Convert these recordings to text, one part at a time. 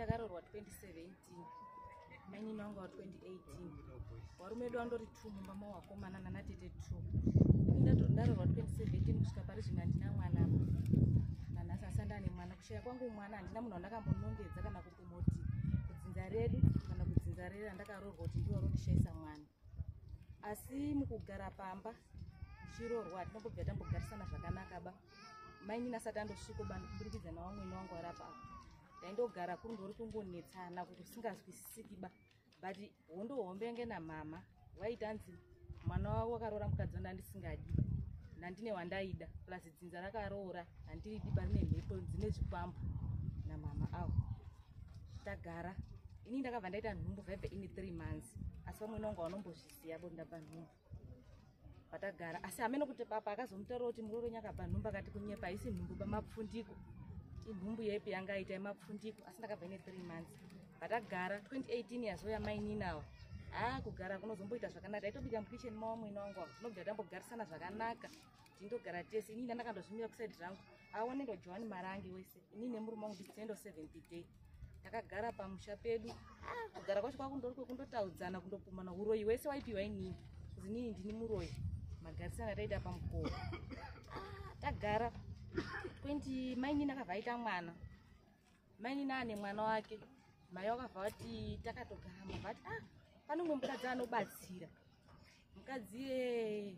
ndakarorwa 2017 mainini wangu wa 2018 warume edu andori two mumba mawakomana nanatete two ndatorwa 2017 kusvika pari zvino handina mwana apa nanhasi asi andane mwana kushaya kwangu mwana handina munhu wandakambonongedza kana kukumoti kudzinza redu kana kudzinza rere andakaroorwa kuti ndiwo rondishayisa mwana asi mukugara pamba tichirorwa tinombobva tambogarisana zvakanaka ba mainini asati andosviko bani kuburikidza navamwene wangu ari apa apa ndaindogara kuri ndori kungonetsana kuti usingazwisisiki ba but hondo hombe yange namama vaitanzi mwana wavo wakaroora mukadzi wanda ndisingadi nandine wandaida plus dzinza rakaroora handiridi ba rine mhepo dzine zvikwambo namama avo tagara ini ndakabva ndaita nhumbu vheve ini three months asi vamwe nonga vanombozviziva bo ndabva nhumbu vatagara asi hameno kuti papa akazomutaura kuti muroronyi akabva nhumbu akati kunyepa haisi nhumbu pamapfundiko inhumbu yepi yanga aita yemapfundiko asi ndakabva ine three months vatagara 2018 yazouya maininawa haa kugara kunozomboita zvakanaka taitobika mukitchen mawamwene wangu ava tinobva tambogarisana zvakanaka tindogara tese inini ndakandozvimira kusaidi rangu aone ndo johani marange wese inini nemurume wangu nditendo seventh day takagara pamusha pedu ah, kugara kwacho kwakundori kwekundotaudzana kundopumana uroyi wese waipiwa inini kuzi inini ndini muroyi magarisana taita pamukowo ah, tagara 20 mainini akavaita mwana mainini ane mwana wake mai wakabva vati takatogara mabva ati ah pane umwe mukadzi anobatsira mukadzi iyeye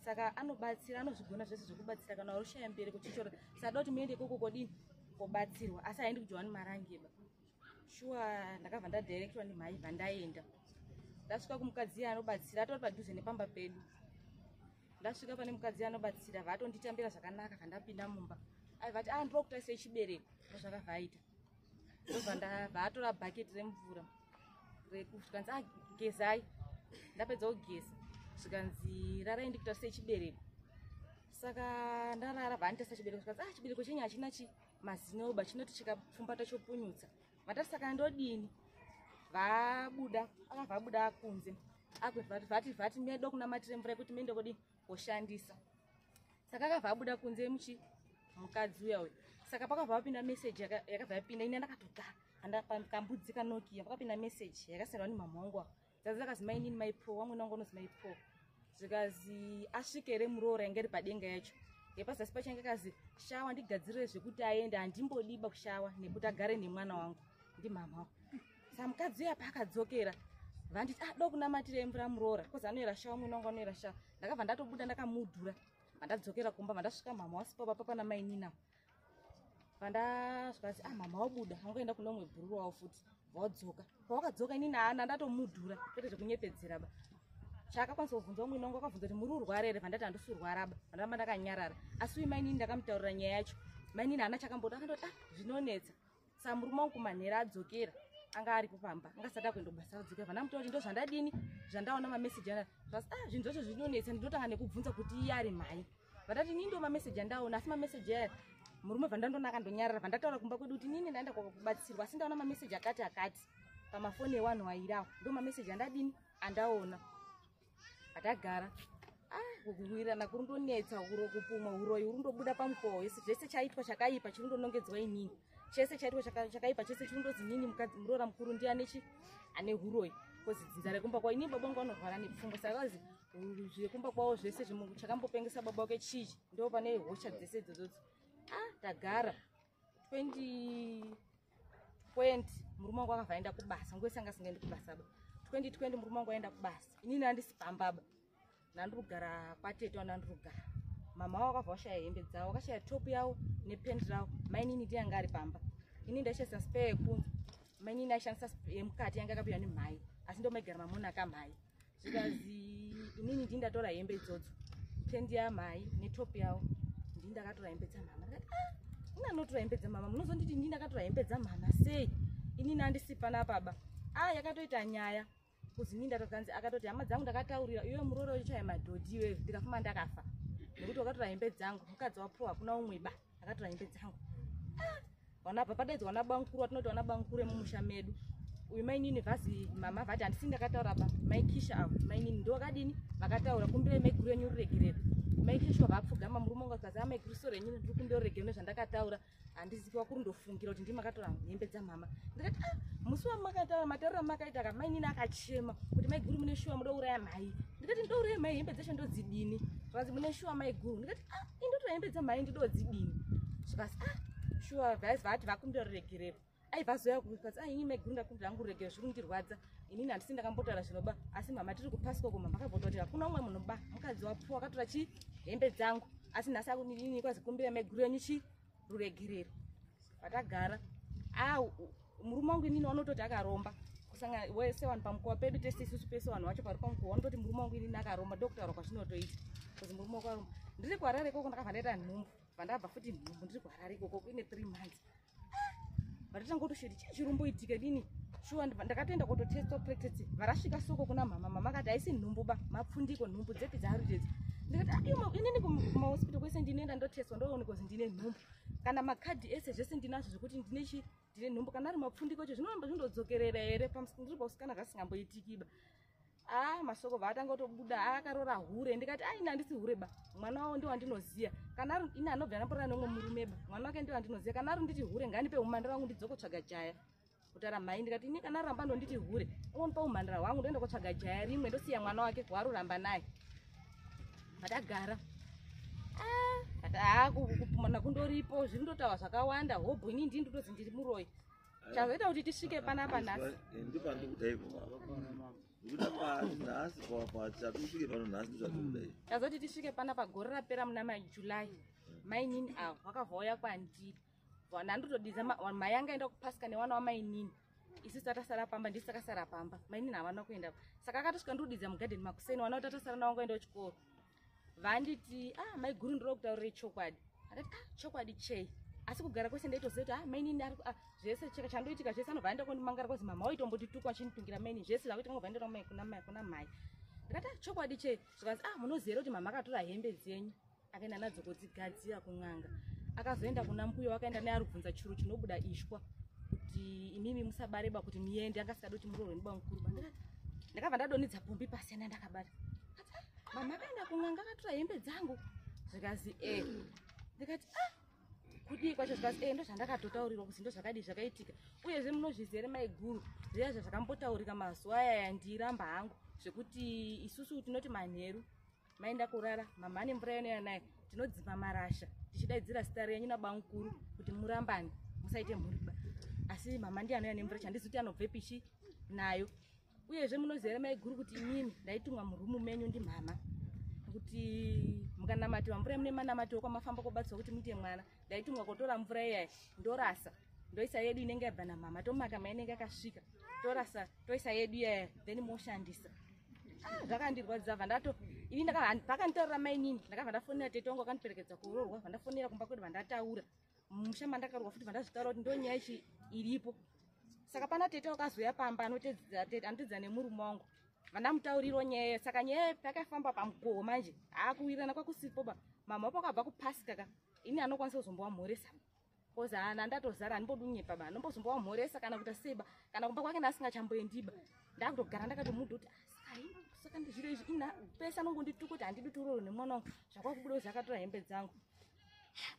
saka anobatsira anozvigona zvese zvekubatsira kana warushaya mberi kuchichora sada kuti muende ikoko kodini kobatsirwa asi aendi kujohani marangeba shuwa ndakabva ndadirectwa nemhai bva ndaenda ndasvika kumukadzi iye anobatsira atori padhuze nepamba pedu ndasvika pane mukadzi anobatsira vatonditambira zvakanaka kandapinda mumba aivati a ah, ndiri kutaisa chibereko ndozvakabva aita ndobva ndabva atora bhaketi remvura zvikanzi agezai ah, ndapedza kugeza zvikanzi rarai ndikutarise chibereko saka ndarara vanditarisa chibereko zvikanzi a ah, chibereko chenyu hachina chi mazinoba chinoti chikapfumbata chopunyutsa vatati saka ndodini vabuda akabva abuda akunze vati vati medo kunamatire mvura yekuti mende kodi koshandisa saka akabva abuda kunze muchi mukadzi uya uyu saka pakabva vapinda meseji yakabva yapinda ini ndakatogara kambudzi kanokiya pakapinda meseji yakasendwa nemamhongo dzadzi akazi mainini maipo wamwene wangu anozi maipo zvikazi asvike here muroora yange ri padenga yacho yepazasi pacho yange akazi shawa ndigadzirire zvekuti aende handimbodiba kushawa nekuti agare nemwana wangu ndimhamha wa sa mukadzi uya paakadzokera vanditi ah do kunamatira imvura muroora bcause anoyera shawa mwene wangu anoyera shawa ndakabva ndatobuda ndakamudhura vandadzokera kumba vandasvika mhamha wasipapa papa namainina pandazvikazi ah mama wabuda angoenda kune umwe bhururu wavo futi vawadzoka pawakadzoka inini ana ndatomudhura kwete zvekunyepedzera ba chaakakwanisa kuvhunza umwene wangu akavhunza kuti muri urwara here vandati handisi urwara ba vandaramba ndakanyarara asi uyu mainini ndakamutaurira nyaya yacho mainini hana chakamboda akandoti ah zvinonetsa sa murume wangu kumanhera adzokera anga aripo pamba anga sati akuenda kubasa adzokera vana muti kuti ndozvandadini zvandaona mameseji ana zvasi ah zvinhu zvacho zvinonetsa ndinotanga nekubvunza kuti iye ari mhai vatati nii ndo mameseji andaona asi mameseji aya murume vandandona akandonyarara vandataura kumba kwedu kuti nini ndaenda kwakubatsirwa asi ndaona mameseji akati akati pamafoni ewanhu wairawo ndo mameseji andadini andaona atagara kukuwirirana kuri ndonetsa uro kupumwa uroyi uri ndobuda pamukowa wese zvese chaitwa chakaipa chiri ndonongedzwa inini chese chaitwa chakaipa chese chiri ndozi nini mukadzi muroora mukuru ndi anechi ane uroyi bcause dzinza rekumba kwao inini baba vangu vanorwara nepfungwa saka kazi zvekumba kwavo zvese zvimwe chakambopengesa baba wake chii ndo pane hosha dzese idzodzo ah tagara 2020 murume wangu akabva aenda kubasa nguese anga asingaendi kubasa ba 2020 murume wangu aenda kubasa inini andisi pamba ba nandiri kugara kwatete wanandiri kugara mama wavo akabva washaya hembe dzavo akashaya top yavo nependi ravo mainini ndi yanga ari pamba ini ndaishandisa spa yekunze mainini aishandisa yemukati yanga akapiwa nemhai asi ndomaigara mamuna kamhai zvikazi inini ndii ndatora hembe idzodzo tendi yamai netop yawo ndii ndakatora hembe dzamama ndikati ah, ini anotora hembe dzamama munozonditi ndii ndakatora hembe dzamama sei inini andisi pana baba a ah, yakatoita nyaya kuzi nii ndatokanzi akatoti hama dzangu ndakataurira iwe muroora uchichaya madhodhi iwewe ndikafuma ndakafa nekuti wakatora hembe dzangu mukadzi wapuwa hakuna umwe ba akatora hembe dzangu ah, wana apa padaidzi wana bankuru watinoti wana bankuru emumusha medu uyu mainini vhazi mama vati handisi ndakataura pa maikisha avo mainini ndovakadini vakataura kumbire maiguru enyu ruregerero maikisha vapfugama murume wangu akazi amaiguru soro enyu ndiri kumbira ruregerero nezvandakataura handizivi wakuri ndofungira kuti ndimakatora hembe dzamama ndikati ah, musi wamakataura matauriro amakaita ka mainini akachema kuti maiguru mune shuwa mudouraya mhai ndikati ndouraya mhai hembe dzeshe ndodzidini vazi mune shuwa maiguru ndikati ah indotora hembe dzamai ndidodzidini zvikas ah shuwa vaizi vaati vakumbira ruregerero aiva zoya kukas ah ini maiguru ndakumbira hangu ruregerero zviri kundirwadza inini handisi ndakambotaura zvinoba asi mama tiri kupaswa kuma makabvota kuti hakuna umwe munhu ba mukadzi wapuwa akatora chi hembe dzangu asi nhasi akunini kwazi kumbira maiguru yenyu chii ruregerero vatagara ah, murume wangu inini wanototi akaromba kusangana wese vanhu pamukowa pedu tese isusu pese vanhu vacho pari pamukowa vanototi murume wangu inini akaromba ndokutaura kwazvinotoita bcause murume wako aromba ndiri kuharare ikoko ndakabva ndaita nhumbu vandabva futi nhumbu ndiri kuharare ikoko ine three months ah, vatotanga kutoshedi chii chiri kumboitika dini shuwa ndakatoenda kototesta practice varasvika soko kuna mhama mama akati haisi nhumbu ba mapfundiko nhumbu dzepi dzaarutedzi ndikati ah, inini kumahospital kwese ndinoenda ndotestwa ndoone kozi ndine nhumbu kana makadhi ese zvese ndinazvo zvekuti ndine chi ndine nhumbu kana ari mapfundiko cho zvinoramba zvindodzokerera here ndiri pausikana zvasingamboitikiba Ah, masoko vaatanga kutobuda ah, akarora hure ndikati ah, ini handisi hure ba mwana wavo ndiwo wandinoziva kana ari ini anobva anaporana neumwe murume ba mwana wake ndiwo wandinoziva kana ari nditi hure ngandipe umhandara wangu ndidzokotsvaga jaya kutara mhai ndikati ini kana aramba ndonditi hure unonipa umhandara hwangu ndoenda kotsvaga jaya rimwe ndosiya mwana wake waari kuramba naye vatagara ah, ati ah, kupumana kundoripo zviri ndotawa zvakawanda hobho ini ndii ndotozi ndiri muroyi chazoita kuti tisvike panapa nhasi eh, ndipo pandi kuda ipo nekuda pati nhasi patisvike pano nhasi ndizvatikuda ipo chazoti tisvike panapa gore rapera muna majuly mainini avo vakabva uya kwandiri nandotodiza mai anga enda kupasika newana wamainini isu tatasara pamba ndisi takasara pamba mainini havana kuenda saka akatosvika ndodidza mugadheni makuseni wana kuti atasara nawangu aenda kuchikoro vanditi ah maiguru ndiri kutaurira chokwadi akati ah chokwadi chei asi kugara kwese ndaitoziva kuti ah mainini ari ah, zvese cheka chandoitika zvese anobva aenda kundimangara kwazi mama waitombotituka achinitungira mainini zvese zvakuita kunobva aenda kwamai kuna mai kuna mai ndikati ah chokwadi chei zvikanzi ah munoziva kuti mama akatora hembe dzenyu akaenda nadzo kudzigadzira kun'anga akazoenda kuna mbuyo wakaenda naye ari kubvunza churu chinobuda ishwa kuti imimi musabareba kuti muende angasikadi kuti muroorwe ndiba mukuru ndakabva ndadonidza pumbi pasiyana ndakabata mama akaenda kun'anga akatora hembe dzangu zvikazi e ndikati a ah, kudii kwacho zvikazi e eh, ndozvandakatotaurirwa kuti ndozvakadii zvakaitika uyezve munozviziva ere maiguru zviya zvazvakambotaurika mazuva aya yandiramba hangu zvekuti isusu tinoti manheru maenda kurara mama ane mvura yanoya naye tinodzima marasha tichidaidzira zita renyu nabamukuru kuti murambane musaite mhuriba asi mama ndiye anoya nemvura chandizi kuti anobvepichi nayo uyezve munoziva here maiguru kuti inini ndaitumwa murumu menyu ndimhama kuti mukanamatiwa mvura yemune manamatiwo kwamafamba kobatswa kuti muite mwana ndaitumwa kotora mvura iyayi ndorasa ndoisa yedu inenge yabva namhama tomaka mainenge akasvika torasa toisa yedu iyaya then moshandisa ah, zvakandirwadzisa bva ndato ini pakanditorera mainini ndakabva ndafonera tetongo akandiperekedza kuroorwa bva ndafonera kumba kwedu bva ndataura ah, mumusha mandakarowa futi vandazvitaura kuti ndonyaya ichi iripo saka pana tete wakazouya pamba anotedzera tete anotedzera nemurume wangu vandamutauriro nyaya saka nyaya pakafamba pamugoho manje haakuwirirana kwakusipo ba mama wapo akabva kupasika ka ini anokwanisa kuzombowa mhoresa bcause ana ndatozara andimbodunyepa ba anombozombowa mhoresa kana kuita seba kana kumba kwake naasingachamboendiba ndakutogara ndakatomuda kuti asai ah, saka ndizviro izvi ina pese anongondituka kuti handidi turoro nemwana wangu zvakwakubuda kuzakatora hembe dzangu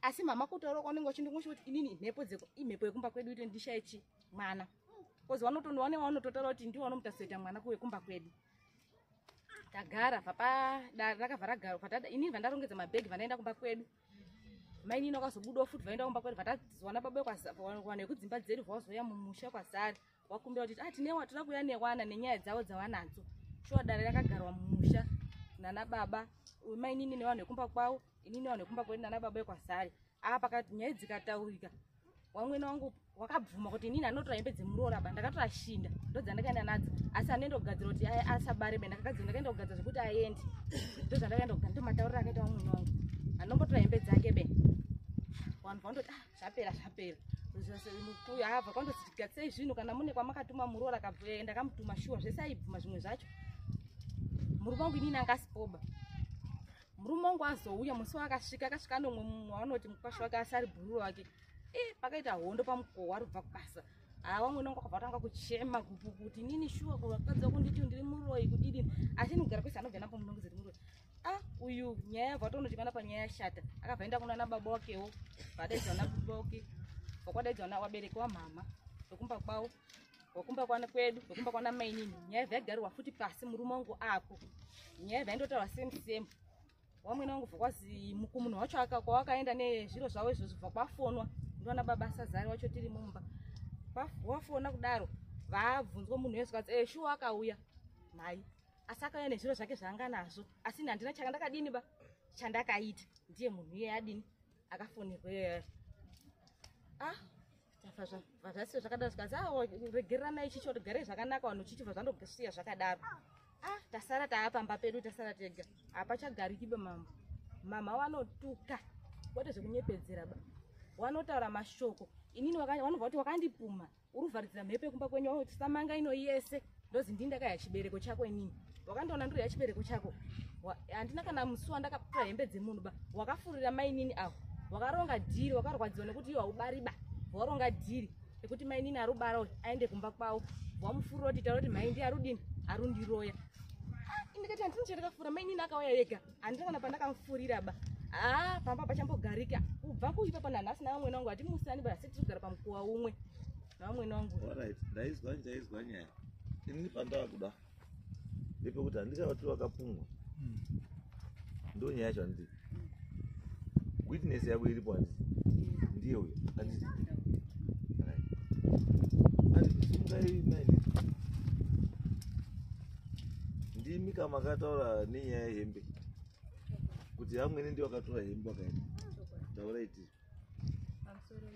asi mama kutaura kwaunenge uchindingoshi kuti inini mhepo dzeko imhepo yekumba kwedu ito ndishaye chi mwana kozi vanotono vane vanototaura kuti ndivo vanomutasoita mwana kuwekumba kwedu tagara papadare rakabva ragaro patada inini vandarongedza mabhegi vanaenda kumba kwedu mainini wakazobudawo futi vaenda kumba kwedu vatazowana baba kwawana yekudzimba dzedu vawazouya mumusha kwazari wakumbira kuti ah, tine watoda kuuya newana nenyaya dzavo dzavanadzo shuwa dare rakagarwa mumusha nana baba mainini nevanhu vekumba kwavo inini vanhu vekumba kwedu nana baba vekwasari aa ah, pakati nyaya dzikataurika wamwene wangu wakabvuma kuti inini anotora hembe dzemuroora ba ndakatora shinda ndodzandakaenda nadzo asi anoenda kugadzira kuti asabare be ndakagadzira ndakaenda kugadzira zvekuti aendi ndozvandakaenda kugadzira ndomataurira akaita wamwene wangu anombotora hembe dzake be vanhu vandoti ah, zvapera zvapera mukuya hava kwandozi tigatsei zvinhu kana mune kwamakatuma muroora kabvuya eh, ndakamutuma shuwa zvese aibvuma zvimwe zvacho murume wangu inini anga asipoba murume wangu azouya musi waakasvika akasvika anomwe mumwe waanoti mukwasha wake asi ari bhururu wake e eh, pakaita hondo pamukoho wari kubva kubasa haa wamwe unonga kwabva tanga kuchema kuti nini shuwa kuvatadza kunditi ndiri muroi kudidini asi inogara kwese anobva napo munongezeti muroi ah uyu nyaya yabva tonodikana panyaya yashata akabva enda kunana baba wakewo vadaidza vana baba wake vakwadaidza vana vabereki wamhama vekumba kwavo wekumba kwana kwedu wekumba kwana mainini nyaya vyaigariwa futi pasi murume wangu ako nyaya vyaindotaura same same wamwene wangu vakwazi mukumunhu wacho aka kwawakaenda nezviro zvavo izvozvo bva kwafonwa ndivana baba sazari wacho tiri mumba wafona kudaro vabvunzwa munhu wese kati e eh, shuwa akauya mhai asi akauya nezviro zvake zvaanga nazvo asi ini handina chaka ndakadini ba chandakaita ndiye munhu iye adini akafonerwa iyoyo ah vazvasiya zvakadaro zvikanzi a ah, regererana ichi choti garei zvakanaka vanhu chichibva zvandosiya zvakadaro a ah, tasara taapamba pedu tasara tega hapachagarikiba mambo mama wanotuka kwete zvekunyepedzera ba wanotaura mashoko inini vanobva kuti wakandipuma uri kuvharidzira mhepo yekumba kwenyu wauti samanga ino yese ndozi ndii ndakaya chibereko chako inini wakandiona ndiri yachibereko chako handina kana musi wandakapura hembe dzemunhu ba wakafurira mainini avo wakaronga dhiri wakarwadziwa nekuti iyo haubari ba waronga dhiri rekuti mainini ari ubara uyu aende kumba kwavo wamufurira kuti taura kuti maindi arudini arundiroya ah, ndikati handini chandakafura mainini akauya yega handina kana pandakamufurira ba haa pamba pachambogarika kubva kuipa pana nhasi navamwene wangu hatimusani ba asi tirigara pamukuwa umwe navamwene wangu orit ndaizwa ndaizwa nyaya ini pandava kuda ndepekuti handichavati vakapumwa hmm. ndo nyaya yacho handii witness yako iripo handii ndiye uyo handii ndimi ka makataura nenyaya yehembe kuti amwene ndi wakatora hembe wakaenda taura iti pamusoro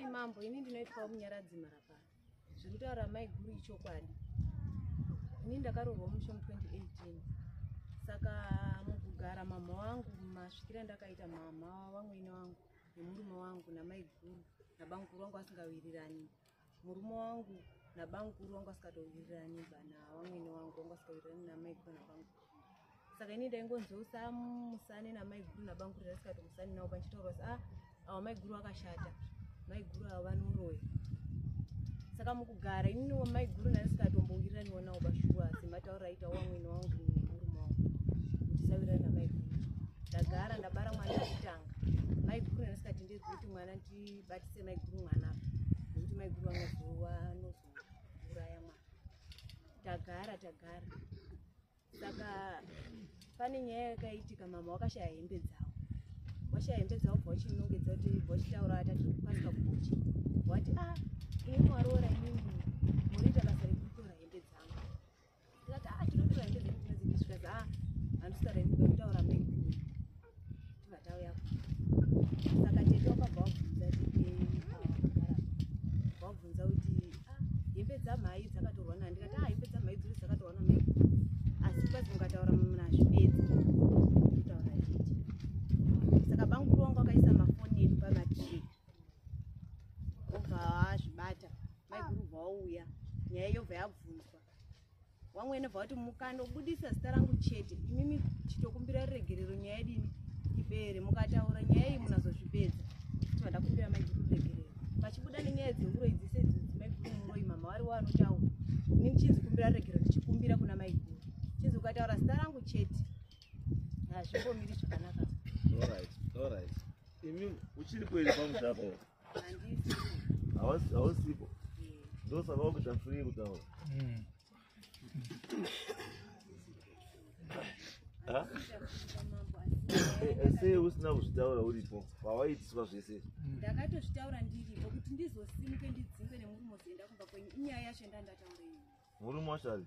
imambo ini ndinoitwawo munyaradzi marapaa zviri kutaura mai guru ichokwadi ini ndakaroorwa musho mu 2018 saka mukugara mamha wangu masvikira ndakaita mamha wamwene wangu nemurume wangu namaiguru nabamukuru wangu asingawirirani murume wangu nabamukuru wangu asikatowirirani bana wamwene wangu wangu asikawirirani namaiguru nabamukuru saka ini ndaingonzwa kuti amusane namaiguru nabamukuru ndasikatomusani navo pandichitaura kuti ah awa maiguru akashata maiguru ava vanoroya saka mukugara ini maiguru ndasikatombowiraniwo navo pashuwa semataura aita wamwene wangu nemurume wangu kuti sawirirani namaiguru ndagara ndabara mwana wekutanga maiguru anasikatendedzi kuti mwana ndibatise maiguru mwana nekuti maiguru vanozowa anozouraya mwana tagara tagara saka pane nyaya yakaitika mama wakashaya hembe dzavo washaya hembe dzavo bva uchinongedza kuti bva uchitaura atati kukwanisa kubuchi wati a ah, ini waroora inini ndikati ah tinodura hembe dzedu dzinodzimbiswa zvikanzi ah handisitaura hembe ndakutaura mega tivatauya saka tete wakabva wabvunza tete vakagara wabvunza kuti ah hembe dzamhai dzakatorwa na ndikati ah hembe dzamhai dziri dzakatorwa na mega asi kwazi mukataura munazvi bedzi kutaura tete saka banguru wangu akaisa mafoni edu pamatree obva azvibata maiguru bva wauya nyaya yobva yabvunzwa wangu enobva kuti mukandobudisa zita rangu chete imimi chitokumbira ruregerero nyaya yedini ibere mukataura nyaya iyi munazozvipedza tiba ndakumbira mai guru ruregerero vachibuda nenyaya dzeuroi dzese dzimai guru muroi mama wari wanotaura ini ndichinzi kumbira ruregerero ndichikumbira kuna mai guru chinzi ukataura zita rangu chete hazvimbomiri zvakanaka imimi uchiri kuenda pamusaka hausipo ndosaka wakuita free kutaura hmm. eh, eh, sei usina kuzvitaura uripo pawaitiswa zvese hmm. ndakatozvitaura ndiripo kuti ndizosimuke ndidzingwe nemurume ozoenda kumba kwenyu inyaya yacho ndandataureii murume wacho ari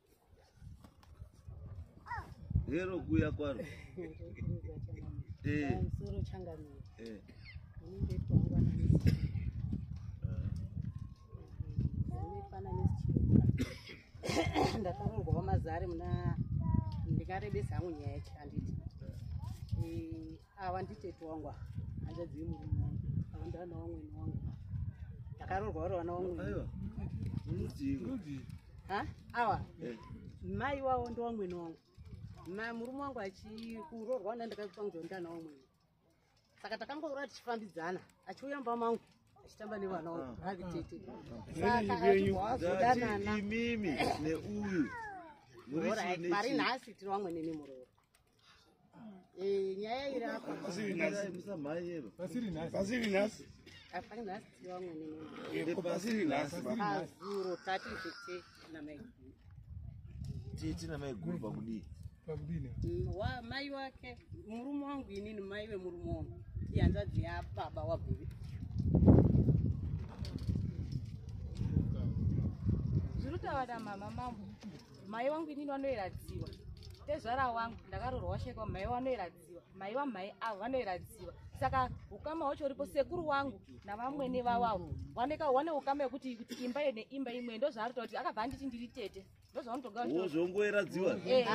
hero kuya kwaro eh. eh. ndakarorwa wamazare muna ndikarebesa hangu nyaya yacho handiti eh, Ava nditete wangu ava. Hanzvadzi yemurume wangu. Ava ndivana vamwene wangu. Ndakaroorwa vari vana vamwene. Aiwa. Rudzii? Ha? Awa. Eh. Mai wavo ndovamwene wangu. Ma murume wangu achikuroorwa na ndakaitwa kunzwa ndana vamwene. Saka takangoura tichifambidzana. Achiuya mumba mangu. Achitamba nevana wangu. Ah. Havi tete. Saka achibva wazodanana. Imimi neuyu. Muri nhasi tiri vamwene nemuroora. Eh, nyaya iri apa pasiri nhasi hapana nhasi tiri vamwe neno pasiri nhasi azuro tati tete namaiguru tete namaiguru pakudii pakudini mm, mai wake murume wangu inini mai vemurume wangu ihanzvadzi yababa wabhuvi zviri kutaura mama mambo mai wangu inini vanoiradziwa tezvara wangu ndakarorwa washaikwa mai vanoiradziwa mai vamai avo vanoiradziwa saka ukama hwacho uripo sekuru wangu navamwene vavavo vaneka wane ukama yekuti kuti imba yo neimba imwe ndozvaarita kuti akabva anditi ndiri tete ndozvaunotogazvongoiradziwa eh.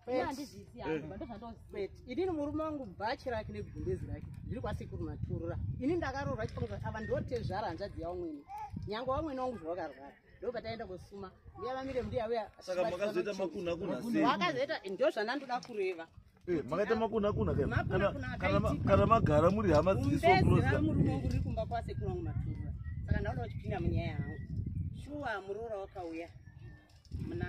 eh. inini murume wangu bhachi rake negumbezi rake zviri kwasekuru maturura ini ndakarorwa chikonga ava ndotezvara hanzvadzi yavamwene nyange wamwene wangu zvavakarwara ndopataenda kosuma mbuya vamire mbuya uya saka makazoita makunha kunha sei wakazoita ndo zvandandoda kureva Eh, makaita makuna kuna kana magara muri hama dzisomurume wangu ri kumba kwasekuru wangu matura saka ndauda uchipinda munyaya yangu shuwa muroora wakauya muna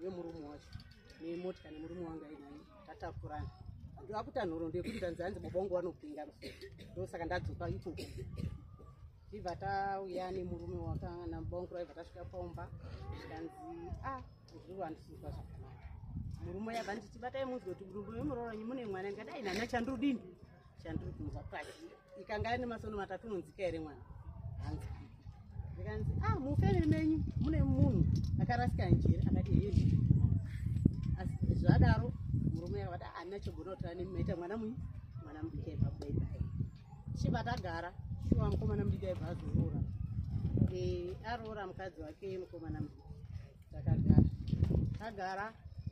vemurume wacho nemotya nemurume wangu ainaye tatakurana akuita nhoro ndekuti tanzi hanzi baba wangu vanopinga ndosaka ndadzoka ikoko ibva tauya nemurume wakana baba wangu raibva tasvika paumba zvikanzi a ah, zviro handisizwa zvakanaka murume yabva nditi batai munzwe kuti murume wemuroranyi mune mwana ndikadai nana chandrudini chandiri kunzwa kwachi ikanga ane masono matatu unonzika here mwana hanzi ndikanzi ah mufamily menyu mune munhu akarasika njere akati hei asi zvadaro murume akati handina ah, chogona kutara nemi maita mwana mui mwana mudiki aiva baibai chiva tagara shuwa mukomana mudiki aiva azoroora eh, aroora mukadzi wake mukomana mudiki takagara tagara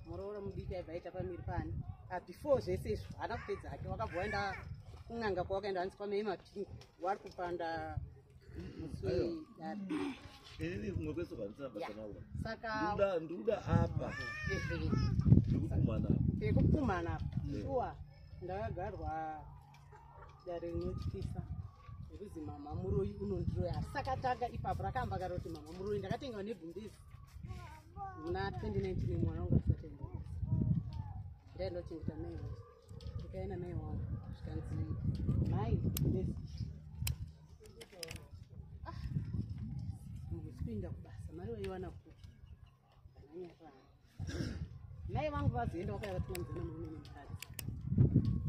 muroora mudiki aibva aita pamiri pani ah, before zvese izvo haana kupedza hake wakabva waenda kun'anga kwawakaenda hanzi kwamei mapingu wari kupanda ndikuda apa ndikukumana apa shuwa ndakagarwa dare rinotyisa nekuzi mama muroyi unondiroya asi sakatanga ipapo rakaamba kare kuti mama muroyi ndakatengewa nebhundezi muna 2019 mwana wangu asatenda ndai ndochengeta mai wangu ndikaenda mai wangu zvikanzi mai bundezi ah, mukuspinda kubasa mari waiwana kupi mai vangu vazoenda vakavatumwa mudzana murume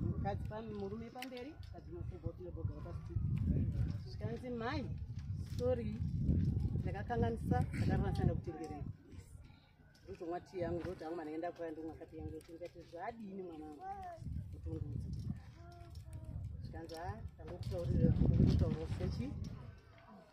nemukadzi mukadzi murume pamberi kadzi mafubotnebogara pasi zvikanzi mai sorry ndakakanganisa ndakaranasanda kutengerei ndozomwa tii yangu ndoti yangu mwana enda kuya ndomwa kati yangu tingati zvadini mwana wangu kutungudza zvikanzi ha ah, tangokutaurira kutaurira sechi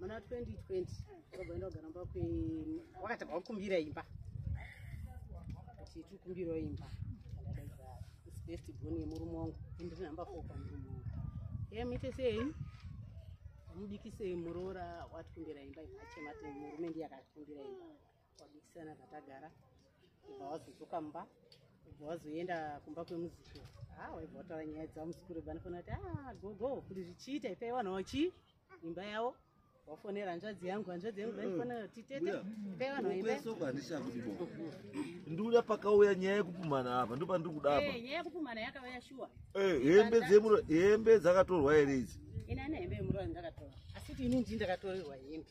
muna 2020 wagoenda kugara mba wakati wakumbira imba kuti tikumbirawo imba best bone yemurume wangu ndiri number four pamurume wangu ye muite sei mudikise muroora watikumbira imba imachema murume ndiye akatikumbira imba kwabisana zvatagara ibva wazodzoka mumba ibva wazoenda kumba kwemuzukuru ha ah, waibva wataura nyaya dzavo muzukuru ibva anofanira kuti ah, gogo kuti zvichiita ipai vanhu vachi imba yavo wafonera hanzvadzi yangu hanzvadzi yangu vaifanira kuti tete ipai vanhu vaimbaesoko handishaa kuti bo ndiuya pakauya nyaya yekupumana apa ndo pandiri kudapa eh, nyaya yekupumana yakauya shuwa eh, hembe dzemuro hembe dzakatorwa here idzi ini ane hembe yemuroyi ndakatora asi kuti ini ndii ndakatorerwa hembe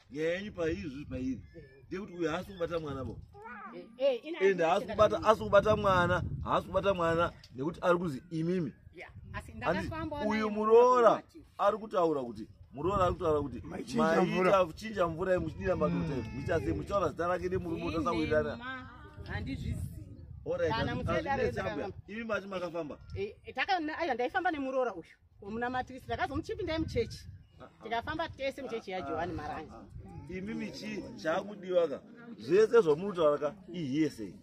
nyaya yenyu paizvi pairi ndekuti uyu haasi kubata mwana bo eh, eh, ende haasi kubata asi kubata mwana haasi kubata mwana nekuti ari kuzi imimi uyu muroora ari kutaura kuti muroora ari kutaura kuti maita kuchinja mvura yemuchidira madota muchase muchaona zita rake nemurume utasawirirana oraiazvinetsabwa imi mati makafamba eh, ndaifamba nemuroora uyu Munamatisi ndakazomuchipindai muchechi tikafamba tese muchechi yajohani marangi imi michi chakudiwa ka zvese zvamunotaura ka ihiyese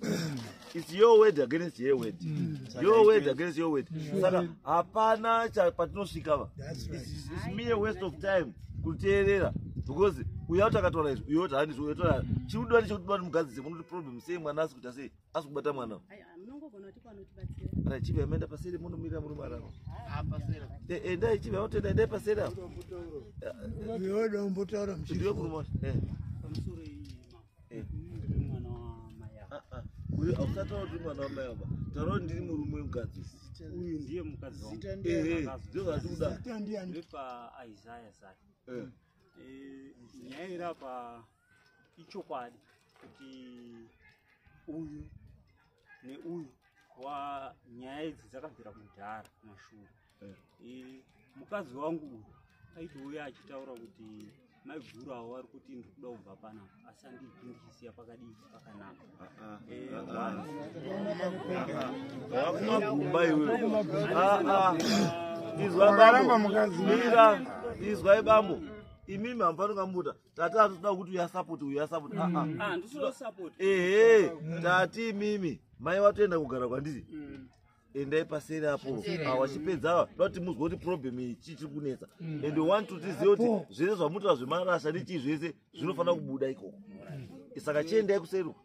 its your word against her word mm. your word against your word mm. saka hapana patinosvika va its me a waste of time kuteerera because uya kuti akataura izvi uyo kuti handizvo uyo kuti chikudiwa nechekudiwa nemugadzise munoti problem sei mwana asi kuita sei asi kubata mwana rachivi amaenda paseri munomira murume arava endai chivi aotenda endai paseri aodombotaura ndiwe murume wacho uyu ausataura kuti mwana wamai ava taura kuti ndiri murume wemukadzi uyu ndiye mukadzindozvatikuda ichokwadi kuti uyu neuyu wa nyaya idzi dzakabvira kudhara kumashure eh. e, mukadzi wangu uyu aitouya achitaura kuti maiguru avo vari kuti ndikuda kubva pana asi andiipi ndichisiya pakadii pakanaka vakumagumba iweizwai bambo imimi hamufanira kambuta tati atitoda kuti uya support uya support mm. ah, ah. ah, ehe tati mimi mai watoenda kugara kwandiri mm. endai paseri apo awachipedza awa dati muzwa kuti problem iyi chii chiri kunetsa mm. and one to tizive kuti zvese zvamutoa zvemarasha nechii zvese zvinofanira kubuda ikoko saka chiendai kuseri uko